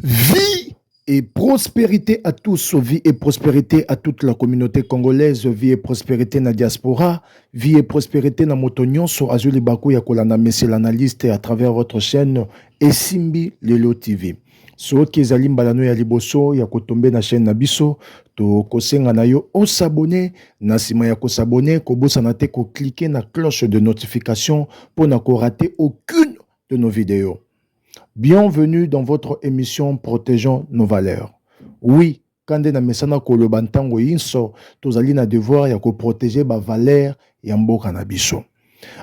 Vie et prospérité à tous, vie et prospérité à toute la communauté congolaise, vie et prospérité na diaspora, vie et prospérité na moto nyonso azuli baku ya kolanda monsieur l'analyste à travers votre chaîne Esimbi Lelo TV. Soki ezali mbala no ya liboso ya kotombe na chaîne na biso, tokosenga na yo o s'abonner. Na nsima ya ko s'abonner, kobosana te ko cliquer na cloche de notification mpo na ko rater aucune de nos videos. Bienvenue dans votre emission Protegeons nos valeurs. Oui, Ka nde na mesana koloba ntango inso tozali na devoir ya ko proteger ba valeurs ya mboka na biso.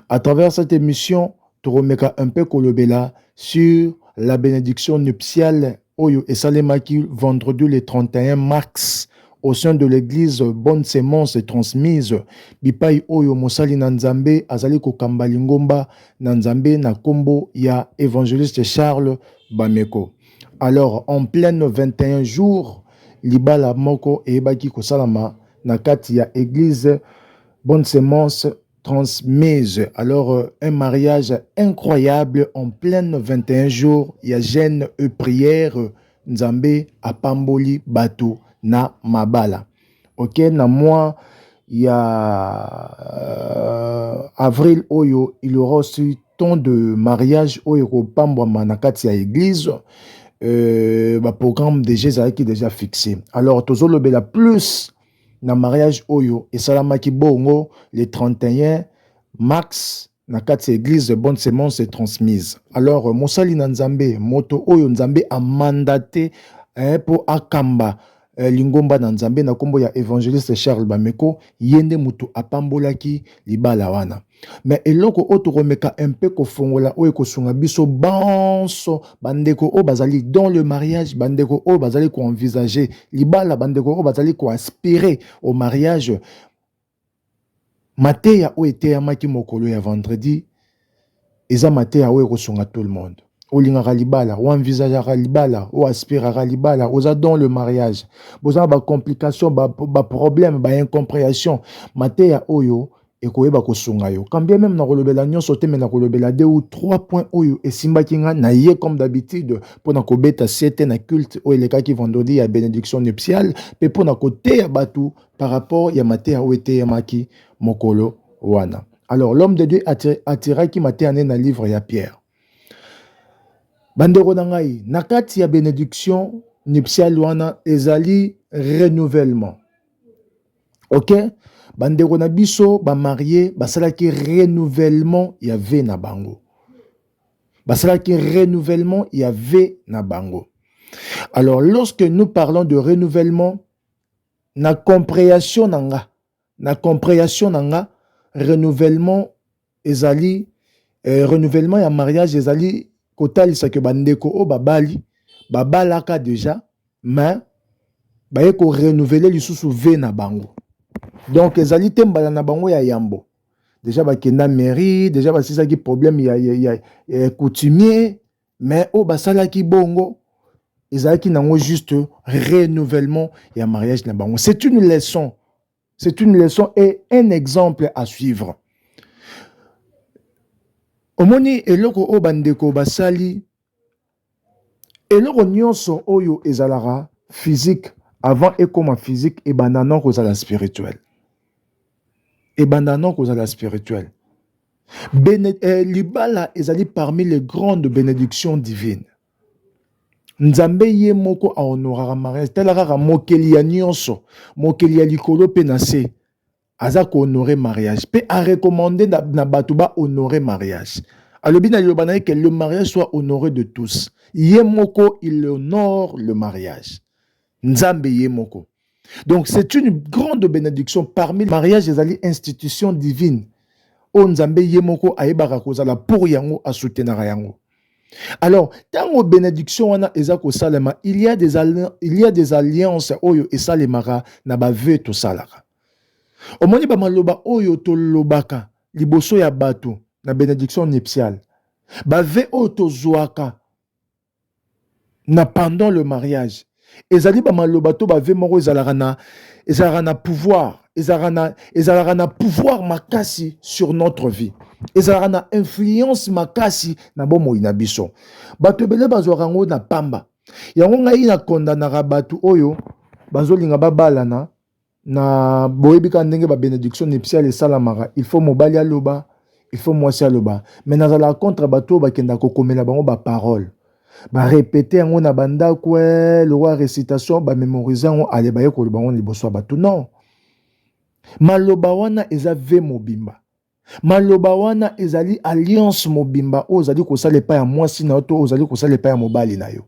A travers cette emission, tokomeka un peu kolobela sur la benediction nuptiale oyo esalemaki vendredi le 31 mars au sein de l'église Bonne Semence Transmise bipai oyo mosali na Nzambe azali kokamba lingomba na Nzambe na kombo ya Evangeliste Charles Bameko. Alors en pleine 21 jours libala moko eyebaki kosalama na kati ya eglise bonne semence transmise alors euh, un mariage incroyable en pleine 21 jours ya jeune et prière nzambe apamboli bato na mabala oke na mois ya avril oyo il aura aussi temps de mariage oyo ekopambwama na kati ya eglise euh, baprogramme deja ezalaki deja fixe alors tozolobela plus na mariage oyo esalamaki bongo le 31 mars na kati ya eglise bonne semence est transmise alors mosali na nzambe moto oyo nzambe a mandate eh, mpo akamba eh, lingomba na nzambe na nkombo ya evangeliste charles bameko ye nde moto apambolaki libala wana me eloko oyo tokomeka mpe kofongola oyo ekosunga biso banso bandeko oyo bazali dans le mariage bandeko oyo bazali koenvisage libala bandeko oyo bazali koaspire au mariage Mateya oyo eteyamaki mokolo ya vendredi eza mateya oyo ekosunga tout le monde. Olingaka libala, o envisageaka libala, o aspiraka libala, oza dans le mariage, boza na ba complications, ba, ba problèmes, ba incomprehension. Mateya oyo ekoyeba kosunga yo. Quand bien même nakolobela nyonso te, mais nakolobela deux ou trois points oyo esimbaki nga na ye comme d'habitude mpo na kobeta sete na culte oyo elekaki vendredi ya benediction nuptiale mpe mpo na koteya bato par rapport ya mateya oyo eteyamaki mokolo wana. Alors l'homme de Dieu atiraki mateya ne na livre ya Pierre. Bandeko na ngai, na kati ya benediction nuptiale wana ezali renouvellement. Ok? bandeko na biso bamarie basalaki renouvellement ya ve na bango basalaki renouvellement ya ve na bango alors lorsque nous parlons de renouvellement Na comprehension na nga, na comprehension na nga renouvellement ezali eh, renouvellement ya mariage ezali kotalisa ke bandeko oyo babali babalaka deja mais baye ko renouveler lisusu ve na bango donc ezali te mbala na bango ya yambo deja bakenda mairie deja basilisaki problème ya, ya, ya, ya coutumier mais oyo basalaki bongo ezalaki nango juste renouvellement ya mariage na bango c'est une leçon c'est une leçon et un exemple à suivre omoni eloko oyo bandeko basali eloko nyonso oyo ezalaka physique avant ekoma physique ebanda noko kozala spirituel ebanda noko kozala spirituel Bene, eh, libala ezali parmi les grandes benedictions divines nzambe ye moko ahonoraka mariage tala kaka mokeli ya nyonso mokeli ya likolo mpe na se aza kohonore mariage mpe arekomande na, na bato bahonore mariage alobi na liloba na ye ke le mariage soit honore de tous ye moko il honore le mariage nzambe ye moko donc c'est une grande bénédiction parmi mariage ezali institution divine oyo oh, nzambe ye moko ayebaka kozala pour yango asoutenaka yango alors ntango bénédiction wana eza kosalema il y a des, il y a des alliances oyo esalemaka na baveu tosalaka omoni bamaloba oyo tolobaka liboso ya bato na bénédiction nuptiale bave oyo tozwaka na pendant le mariage ezali ba maloba to ba vie moko ezalaka na ezalaka na pouvoir ezalaka na ezalaka na pouvoir makasi sur notre vie ezalaka na influence makasi na bomoi na biso bato ebele bazwaka yango na pamba yango ngai na kondanaka bato oyo bazolinga babalana na boyebi kaka ndenge ba benediction nuptiale esalamaka il faut mobali aloba il faut mwasi aloba mais nazala contre bato oyo bakenda kokomela bango baparole barepete yango na bandako eh, lokola recitation bamemorise yango ale baye koloba yango liboso ya bato non maloba wana eza ve mobimba Maloba wana ezali alliance mobimba oyo ozali kosala epai ya mwasi na yo to ozali kosala epai ya mobali na yo.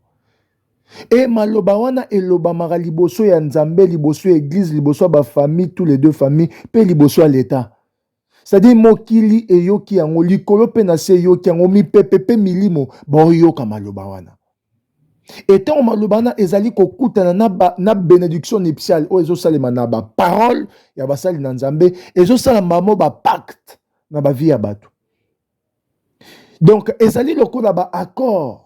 E maloba wana elobamaka liboso ya Nzambe, liboso ya eglise, liboso ya ba famille, tous les deux famille pe liboso ya leta. C'est-à-dire mokili eyoki yango likolo pe na se eyoki yango mipepe pe milimo baoyoka maloba wana. Et tant malobana ezali ko kutana na ba, na benediction nuptiale oyo ezo salema na ba parole ya basali na Nzambe ezo sala mamo ba pacte na ba vie ya bato. Donc ezali lokola ba accord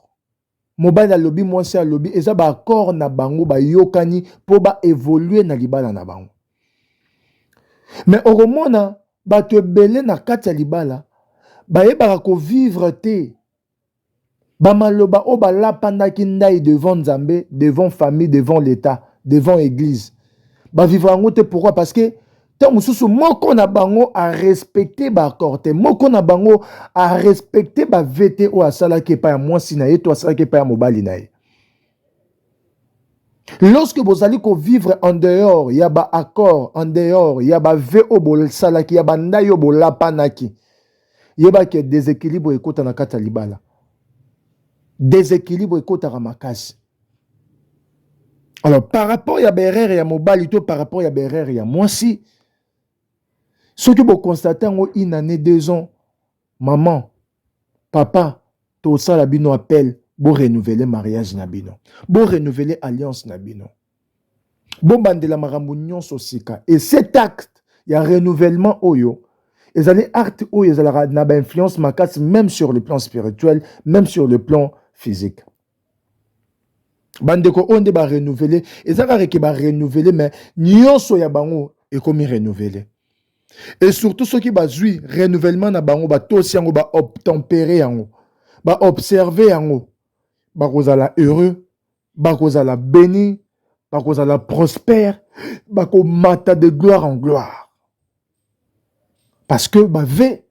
mobali alobi mwasi alobi eza ba accord na bango bayokani mpo ba evolue na libala na bango. Mais okomona bato ebele na kati ya libala bayebaka ko vivre te Ba maloba oyo ba lapandaki ndayi devant Nzambe, devant famille, devant l'etat, devant eglise ba vivra yango te pourquoi? Parce que tango mosusu moko na bango a respecter ba accord te, moko na bango a respecter ba vœux te oyo asalaki epai ya mwasi na ye to asalaki epai ya mobali na ye. Lorsque bozali ko vivre en dehors ya ba accords, en dehors ya ba vœux oyo bosalaki, ya ba ndai oyo bolapanaki, yeba ke desequilibre ekota na kati ya libala. Desequilibre ekotaka makasi. Alors par rapport ya ba erreur ya mobali to par rapport ya ba erreur ya mwasi, soki bo constate yango une année, deux ans, maman Papa tosala bino appel bo renouveler mariage na bino, bo renouveler alliance na bino, bobandela makambo nyonso sika et cet acte ya renouvellement oyo ezali acte oyo ezalaka na ba influence makasi meme sur le plan spirituel, meme sur le plan physique. bandeko oyo nde barenouvele eza kaka ke barenouvele me nyonso ya bango ekomi renouvele e surtout soki bazwi renouvellement na bango batosi yango baobtempere yango baobserve yango bakozala heureux bakozala béni bakozala prospère bakomata de gloire en gloire parce que bave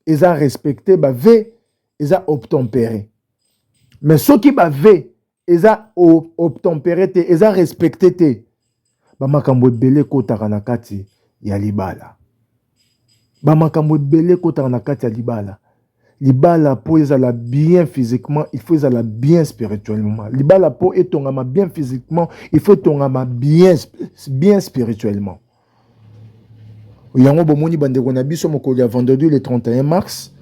eza respecte ba vie eza obtempere mais soki ba vie eza obtempere te eza respecte te bamakambo ebele ekotaka na kati ya libala bamakambo ebele ekotaka na kati ya libala libala mpo ezala bien physiquement il faut ezala bien spirituellement libala mpo etongama bien physiquement il faut etongama bien, bien spirituellement yango bomoni bandeko na biso mokolo ya vendredi le 31 mars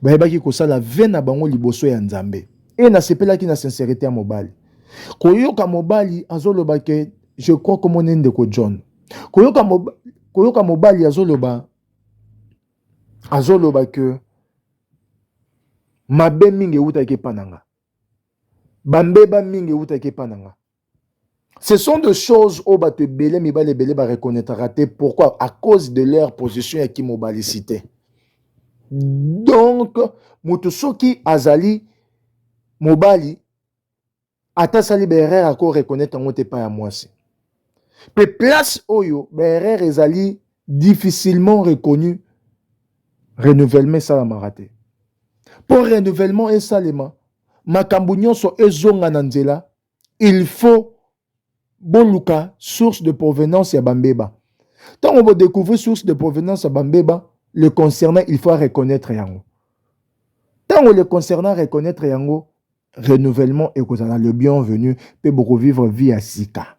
bayebaki kosala ve na bango liboso ya nzambe e nasepelaki na sincerité ya mobali koyoka mobali azoloba ke je crois komona ndeko john koyoka, mob... koyoka mobali azoloba azoloba ke mabe mingi ewutaki epa na nga bambeba mingi ewutaki epa na nga Ce sont des choses oyo bato ebele mibali ebele ba reconnaîtraka te pourquoi à cause de leur position ya kimobalicité donc moto soki azali mobali ata asali baerreur ako reconnaître yango te epai ya mwasi mpe place oyo baerreur ezali difficilement reconnu renouvellement esalamaka te mpo renouvellement esalema makambo nyonso ezonga na nzela il faut boluka source de provenance ya bambeba ntango bodecouvrir source de provenance ya bambeba le concernant il faut reconnaître yango ntango le concernant reconnaître yango renouvellement ekozala le bienvenu mpe bokovivre vie ya sika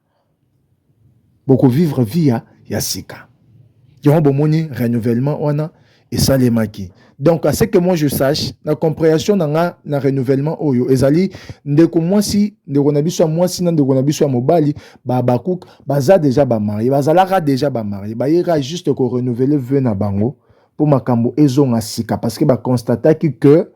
boko vivre vie ya, ya sika. Yango bomoni renouvellement wana esalemaki. Donc à ce que moi je sache, na comprehension na nga na renouvellement oyo ezali ndeko mwasi, ndeko na biso ya mwasi na ndeko na biso ya mobali ba Habakkuk baza deja ba marie, bazalaka deja ba marie, bayeka juste ko renouveler vœux na bango mpo makambo ezonga sika parce que ba constataki que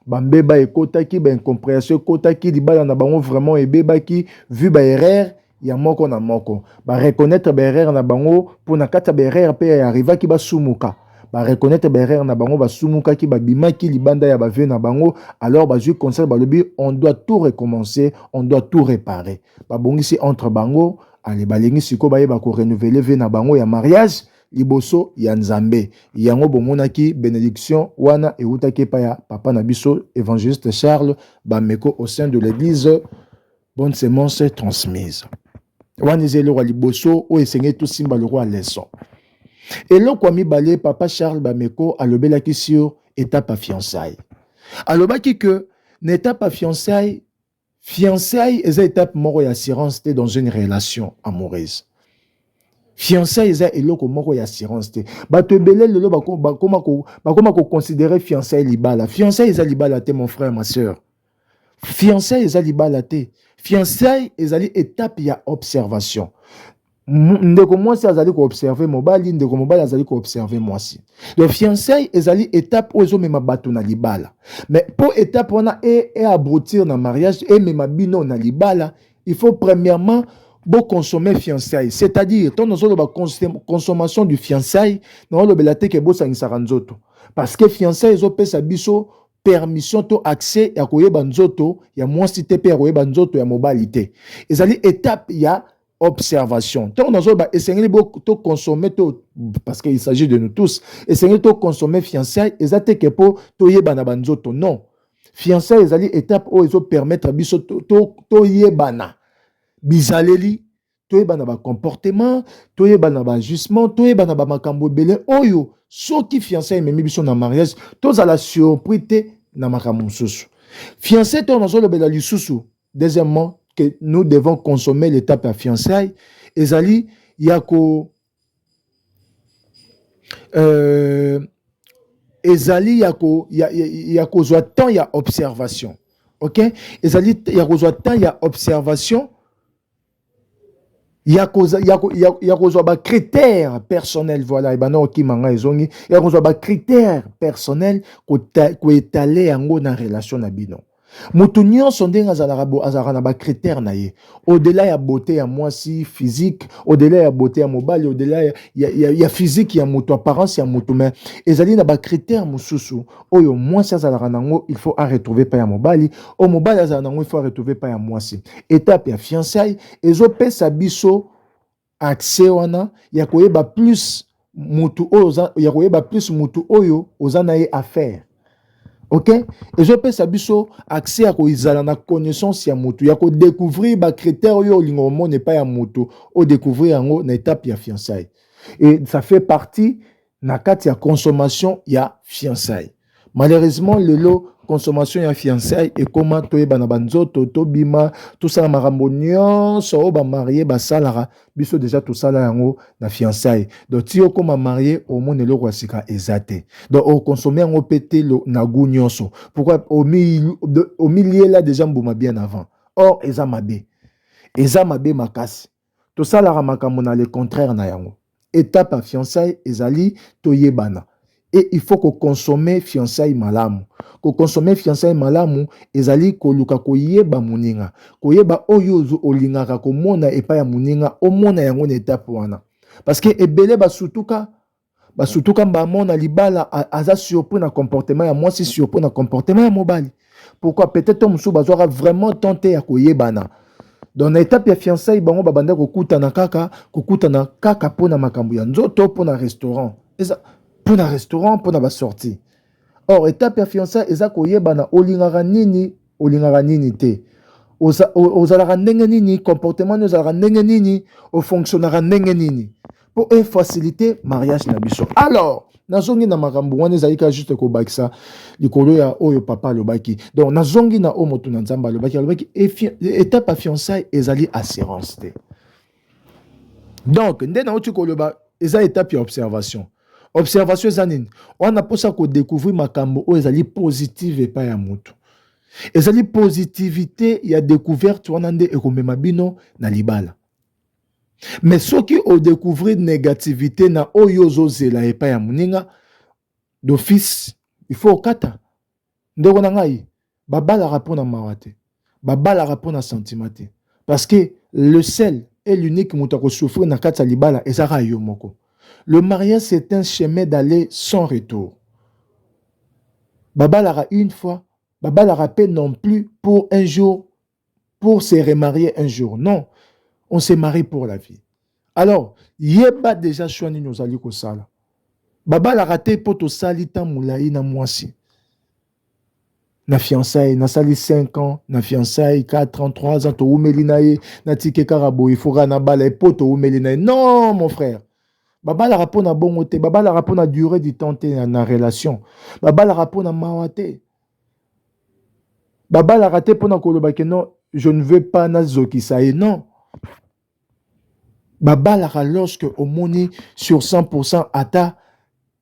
ba mbeba ekotaki ba incomprehension ekotaki libala na bango vraiment ebebaki vu ba erreur ya moko na moko ba reconnaître ba erreur na bango mpo na kati ya ba erreur mpe ya arrivaki basumuka ba reconnaître ba erreur na bango basumukaki babimaki libanda ya ba vie na bango alors bazwi conseil balobi on doit tout recommencer on doit tout réparer babongisi entre bango ale balingi sikoyo bayeba ko renouveler vie na bango ya mariage liboso ya Nzambe. Yango bomonaki benediction wana ewutaki epai ya papa na biso Evangeliste Charles Bameko au sein de l'église Bonne Semence transmise. Wana eza eloko ya liboso oyo esengeli tosimba lokola leson. Eloko ya mibale papa Charles Bameko alobelaki sur etape ya fiançailles. Alobaki que na etape ya fiançailles Fiançailles eza etape moko ya assurance te dans une relation amoureuse. Fiançailles eza eloko moko ya assurance te. Bato ebele lelo bakoma ko bakoma ko considérer fiançailles libala. Fiançailles eza libala te mon frère ma sœur. Fiançailles eza libala te. Fiançailles ezali etape ya observation. ndeko mwasi azali koobserve mobali ndeko mobali azali koobserve mwasi donc fiançai ezali étape oyo ezomema bato na libala mais mpo étape wana eaboutir e na mariage emema bino na libala il faut premièrement boconsommer fiançai c'est-à-dire ntango nazoloba consommation du fiançai naolobela te ke bosangisaka nzoto parce que fiançai ezopesa biso permission to accès ya koyeba nzoto ya mwasi te mpe ya koyeba nzoto ya mobali te ezali étape ya observation ntango nazoloba esengeli tokonsome to parce qu'il s'agit de nous tous esengeli tokonsome fiançai eza te ke mpo toyebana banzoto non fiançai ezali étape oyo ezopermettre biso toyebana to, to bizaleli toyebana bacomportement toyebana baajustement toyebana bamakambo ebele oyo soki fiançai ememi biso na mariage tozala surpris te na makambo mosusu fiançai ntango nazolobela lisusu deuxièmement que nous devons consommer l'étape ya fiançailles ezali ya ko euh, ezali ya ko ya, ya, ya kozwa temps ya observation ok ezali ya kozwa temps ya observation ya kozwa ba critère personnel voilà ebanda kokima ngai ezongi ya kozwa ba critère personnel koetale yango na relation na bino moto nyonso ndenge azalaka azalaka na ba critère na ye odela ya beauté ya mwasi physique odela ya beauté ya mobali odela ya, ya, ya, ya physique ya moto apparence ya moto mais ezali na ba critère mosusu oyo mwasi azalaka na yango il faut aretrouve epai ya mobali oyo mobali azala na yango il faut aretrouve epai ya mwasi etape ya fiançaille ezopesa biso accès wana ya koyeba plus mutu oyo oza ya koyeba plus mutu oyo oza na ye affaire ok ezopesa biso accès ya koizala na connaissance ya mutu ya kodécouvrir bacritère oyo olinga omona epai ya mutu odecouvrir yango na etape ya fiançaille et ça fait partie na kati ya consommation ya fiançailles malheureusement lelo consommation ya fiançailles ekoma toyebana banzoto tobima tosala makambo nyonso oyo bamarie basalaka biso deja tosala yango na fiançailles donc ti okoma marie omona eloko ya sika eza te donc okonsome yango mpe te na gout nyonso pourkui omiliela deja mbuma bien avant or eza mabe eza mabe makasi tosalaka makambo na le contraire na yango étape ya fiançailles ezali toyebana et il faut kokonsome fiançailles malamu kokonsome fiançailles malamu ezali koluka koyeba moninga koyeba oyo olingaka komona epai ya moninga omona yango na etape wana parce que ebele basutuka Ba surtout quand maman na libala aza surpris na comportement ya mwasi surpris na comportement ya mobali. Pourquoi peut-être to musuba zwaka vraiment temps te ya koyebana. Donc na étape ya fiançailles bango ba banda kokutana kaka kokutana kaka pona makambo ya nzoto pona restaurant. Eza pona restaurant pona ba sortie. Or étape ya fiançailles eza koyebana olingaka nini olingaka nini te ozalaka ndenge nini comportement nini ozalaka ndenge nini ofonctionnaka ndenge nini mpo efacilite mariage na biso alors nazongi na makambo wana ezali kaka juste kobakisa likolo ya oyo papa alobaki donc nazongi na oyo moto na nzambe alobaki alobaki etape ya fiançai ezali assurance te donc nde nauti koloba eza etape ya observation observation eza nini wana mposa kodecouvrir makambo oyo ezali positive epai ya motu ezali positivité ya découverte wana nde ekomema bino na libala mais soki odecouvrir négativité na oyo ozozela epai ya moninga d'office il faut okata Ndeko na ngai, babalaka mpo na mawa te, babalaka mpo na sentiment te, parce que le seul et l'unique moto ako souffrir na kati ya libala eza kaka yo moko. Le mariage c'est un chemin d'aller sans retour. Babalaka une fois, babalaka mpe non plus pour un jour pour se remarier un jour non on se marie pour la vie alors yeba déjà choix nini ozali kosala babalaka te mpo tosali ntan molai na mwasi na fiançaille nasali 5 ans na fiançaille 4 ans 3 ans toumeli na ye natike kaka boye foka nabala ye mpo toumeli na ye non mon frère babalaka mpo na bongo te babalaka mpo na durée du temps te na relation babalaka mpo na mawa te babalaka te mpona koloba ke non je ne veux pas nazokisa ye non babalaka lorsque omoni sur 100 pourcent ata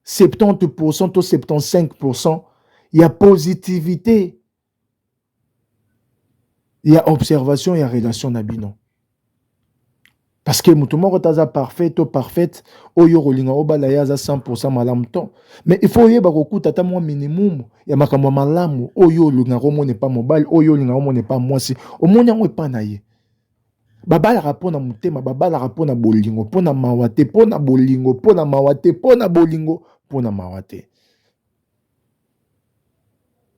70 pourcent to 75 pourcent ya positivité ya observation ya relation na bino Parce que moto moko te aza parfait to parfaite oyo okolinga obala ye aza 100% malamu to mais il faut oyeba kokuta ata mwa minimum ya makambo ya malamu oyo olingaka omona epa mobali oyo olingaka omona epa mwasi omoni yango epa na ye babalaka mpo na motema babalaka mpo na bolingo mpo na mawa te mpo na bolingo mpo na mawa te mpo na bolingo mpo na mawa te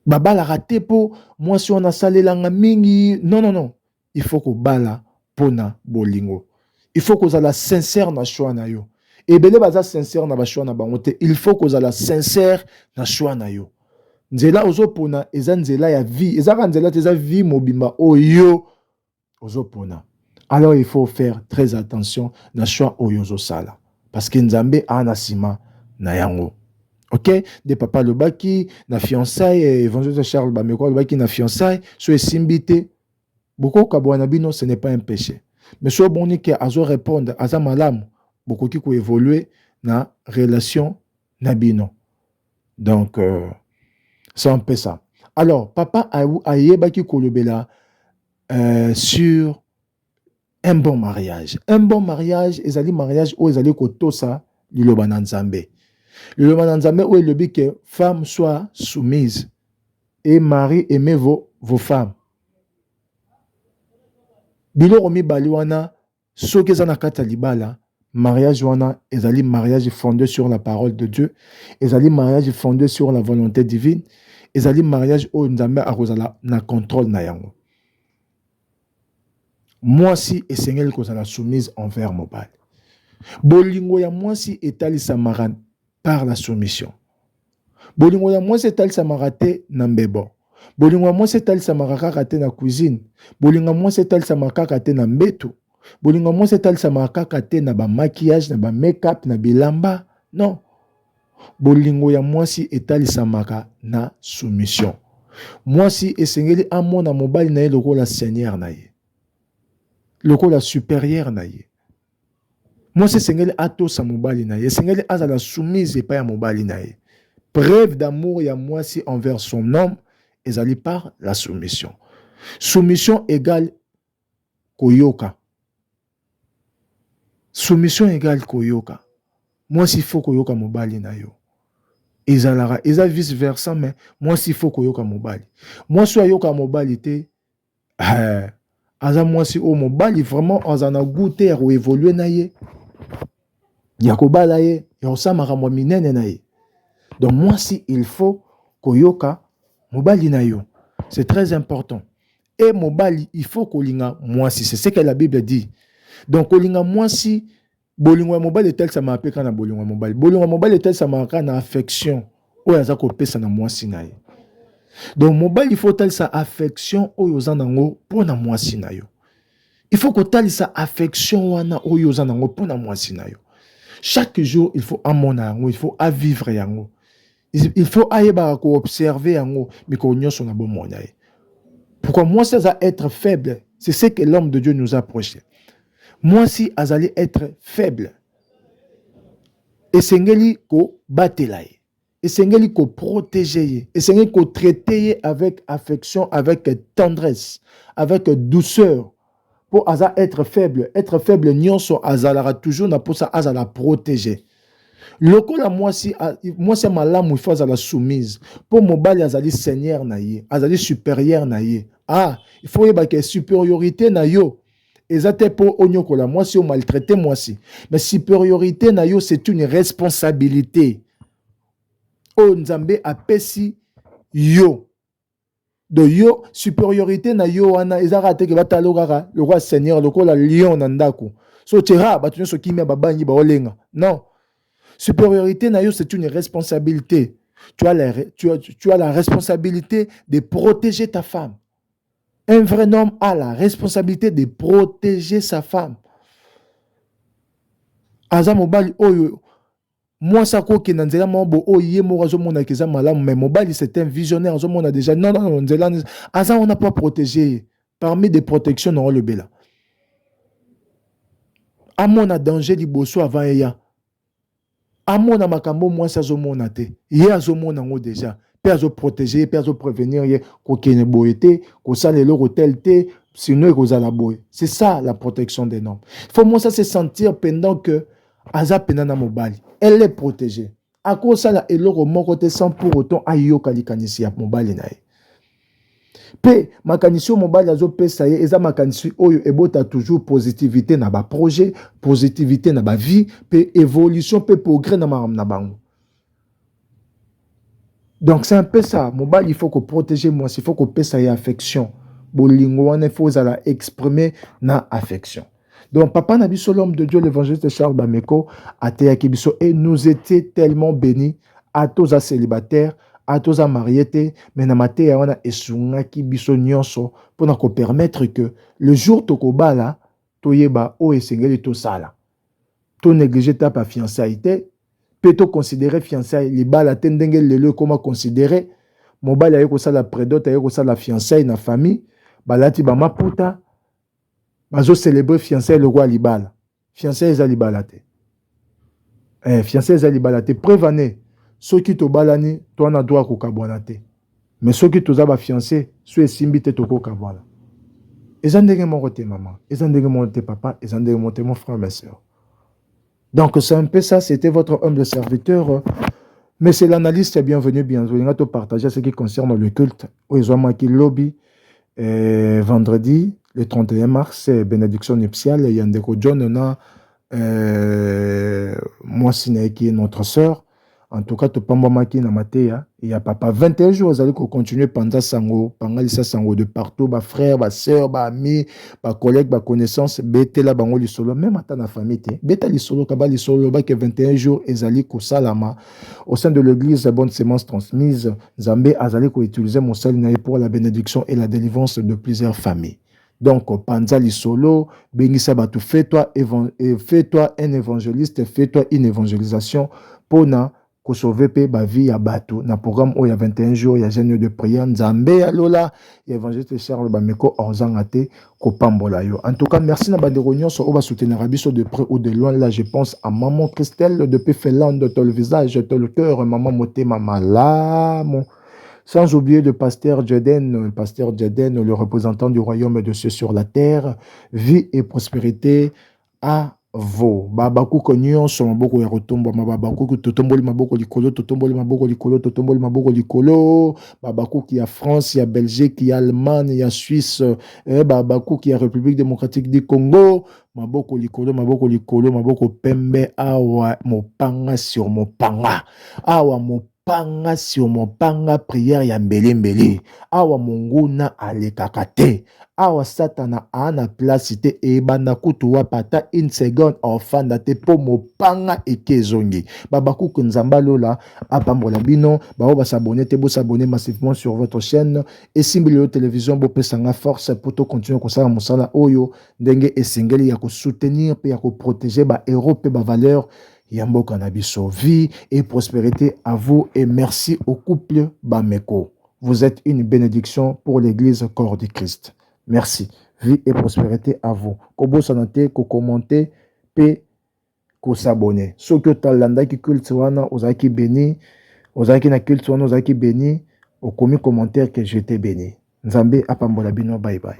babalaka te mpo mwasi wana asalelanga mingi non non non Il faut kobala pona bolingo. Il faut kozala sincère na choix na yo. Ebele baza sincère na ba choix na bango te. Il faut kozala sincère na choix na yo. Nzela ozo pona eza nzela ya vie. Eza ka nzela te eza vie mobimba oyo ozo pona. Alors il faut faire très attention na choix oyo ozo sala. Parce que Nzambe a na sima na yango. ok nde papa alobaki na fiançaille eh, évangile charles bameko alobaki na fiançaille so esimbi te Boko kabuana na bino ce n'est pas un peche mais soki omoni ke azo repondre aza malamu bokoki ko evoluer na relation na bino donc euh, c'est un peu ça alors papa ayebaki kolobela euh, sur Un bon mariage. Un bon mariage ezali mariage oyo ezali kotosa liloba na Nzambe. Liloba na Nzambe oyo elobi que femme soit soumise et mari aimez vos, vos femmes. Biloko mibali wana soki eza na kati ya libala mariage wana ezali mariage fondé sur la parole de Dieu, ezali mariage fondé sur la volonté divine, ezali mariage oyo Nzambe akozala na contrôle na yango. Mwasi esengeli kozala soumise envers mobali. Bolingo ya mwasi etalisamaka par la soumission. Bolingo ya mwasi etalisamaka te na mbebo. Bolingo ya mwasi etalisamaka kaka te na cuisine. Bolingo ya mwasi etalisamaka kaka te na mbetu. Bolingo ya mwasi etalisamaka kaka te na ba maquillage, na ba make-up, na bilamba. Non. Bolingo ya mwasi etalisamaka na soumission. Mwasi esengeli amona mobali na ye lokola seigneur na ye, lokola superieur na ye. Mwasi esengeli atosa mobali na ye, esengeli azala soumise epai ya mobali na ye. Preuve d'amour ya mwasi envers son homme ezali par la soumission. Soumission égale koyoka. Soumission egale koyoka. Mwasi il faut koyoka mobali na yo. Ezalaka eza vice versa mais mwasi il faut koyoka mobali. Mwasi oyo ayoka mobali te eh, aza mwasi oyo mobali vraiment aza na goût te ya ko evoluer na ye ya kobala ye ya kosala makambo ya minene na ye. Donc mwasi il faut koyoka mobali na yo. C'est très important. et mobali il faut kolinga mwasi c'est ce que la bible dit donc kolinga mwasi bolingo ya mobali etalisamaka mpe kaka na bolingo ya mobali bolingo ya mobali etalisamaka kaka na affection oyo aza kopesa na mwasi na ye donc mobali faut otalisa affection oyo oza nango mpo na mwasi na yo il faut kotalisa affection wana oyo oza nango mpo na mwasi na yo chaque jour il faut amona yango il faut avivre yango il faut ayebaka ko observer yango mikolo nyonso na bomoi na ye pourquoi mwasi aza être faible c'est ce que l'homme de dieu nous a prêché mwasi azali être faible esengeli kobatela ye esengeli koprotege ye esengeli kotraite ye avec affection avec tendresse avec douceur po aza être faible être faible nionso azalaka toujours na posa azala protege lokola mwasi mwasi ya malamu ifo azala soumise po mobali azali seigneur na ye azali superieur na ye ah ifo oyeba ke superiorité na yo eza te po onyokola mwasi o maltraite mwasi mais superiorité na yo c'est une responsabilité oyo nzambe apesi yo donc yo supériorité na yo wana eza kaka te ke batala yo kaka lokola seigneur lokola lion na ndako so tera bato nyonso kimia babangi baolenga non supériorité na yo c'est une responsabilité tu as, la, tu, as, tu as la responsabilité de protéger ta femme un vrai homme a la responsabilité de protéger sa femme aza mobali oyo Muasi ako kenda nzela moko bo oyo ye moko azo mona ke eza malamu mais mobali c'est un visionnaire azo mona dejà non non nzela aza wana po a proteger ye parmi des protections na olobela amona danger liboso avant eya amona makambo muasi azo mona te ye azo mona ngo dejà pe azo proteger ye pe azo prevenir ye ko kende boye te ko sala eloko tel te sinon ekozala boye c'est ça la protection des normes faut muasi se sentir pendant que aza pena na mobali elle est protégée akosala eloko moko te sans pour autant ayoka likanisi ya mobali na ye mpe makanisi oyo mobali azopesa ye eza makanisi oyo ebota toujours positivité na baprojet positivité na bavie mpe évolution mpe progrès na makambo na bango donc c'est un peu ça mobali il faut ko protéger mwasi il faut kopesa ye affection bolingo wana il faut ozala exprime na affection donc papa na biso l'homme de Dieu l'évangéliste Charles Bameko ateyaki biso et nous était tellement béni ata oza célibataire ata oza marie te mais na mateya wana esungaki biso nyonso mpo na kopermettre que le jour tokobala toyeba oyo esengeli tosala. To negliger etape ya fiançailles te mpe to considerer fiançailles libala te ndenge lelo ekoma considerer mobali aye kosala predot aye kosala fiançailles na famille balati ba maputa bazo celebrer fiançailles lokola libala. Fiançailles eza libala te. eh, fianse eza libala te preuve ane soki tobalani to na droit kokabwana te mais soki toza bafianse so esimbi te tokokabwana eza ndenge moko te mama eza ndenge moko te papa eza ndenge moko te mon frère ma soeur donc c'est un peu ça c'était votre humble serviteur monsieur l'analyste bienvenue bienvenue nga topartage ce qui concerne le culte oyo ezwamaki lobi eh, vendredi le 31 mars eh, bénédiction nuptiale ya ndeko john na euh, mwasi na ye ki notre sœur en tout cas topambwamaki na mateya ya papa 21 jours azali kocontinue panza sango pangalisa sango de partout bafrère basœur baami bacollègue baconnaissance betela bango lisolo meme ata na famille te beta lisolo kaba lisolo lobaki 21 jours ezali kosalama au sein de l'église bonne semence transmise nzambe azali koutilize mosali na ye pour la bénédiction et la délivrance de plusieurs familles Donc panza lisolo, bengisa batu, fais toi euh, fais toi un evangeliste, fais toi une evangelisation pona ko sauver pe ba vie ya batu na programme oyo ya 21 jours ya jeune de prière Nzambe ya lola ya evangeliste Charles Bameko ozanga te ko pambola yo. En tout cas, merci na bandeko nyonso oba soutenir biso de près ou de loin. Là, je pense à maman Christelle depuis Finlande, ton visage, ton cœur, maman motema malamu. Sans oublier le pasteur Jaden, pasteur Jaden, le représentant du royaume de ceux sur la terre, vie et prospérité à vo babakuku nyonso maboko ya kotombwama babakuku totomboli maboko likolo totomboli maboko likolo totomboli maboko likolo babakuku ya france ya belgique ya allemagne ya suisse eh, babakuku ya république démocratique du congo maboko likolo maboko likolo maboko pembe awa mopanga sur mopanga awa mopanga Panga sur mon panga prière ya mbele mbele. Awa monguna alekaka te. Awa satana a na place te ebanda kutu wapa ata une seconde ofanda te po mopanga eke ezongi. Babakuku nzamba lola apambola bino. Bao ba s'abonner te bo s'abonner massivement sur votre chaîne. Esimbi lelo television bo pesa nga force po to continuer kosala mosala oyo ndenge esengeli ya ko soutenir pe ya ko proteger ba heros pe ba valeurs ya mboka na biso vie et prospérité à vous et merci au couple Bameko vous êtes une bénédiction pour l'église corps du Christ merci vie et prospérité à vous kobosana te ko commenter pe ko s'abonner soki otalandaki culte wana ozalaki béni ozalaki na culte wana ozalaki béni okomi commentaire que je t'ai béni nzambe apambola bino bye bye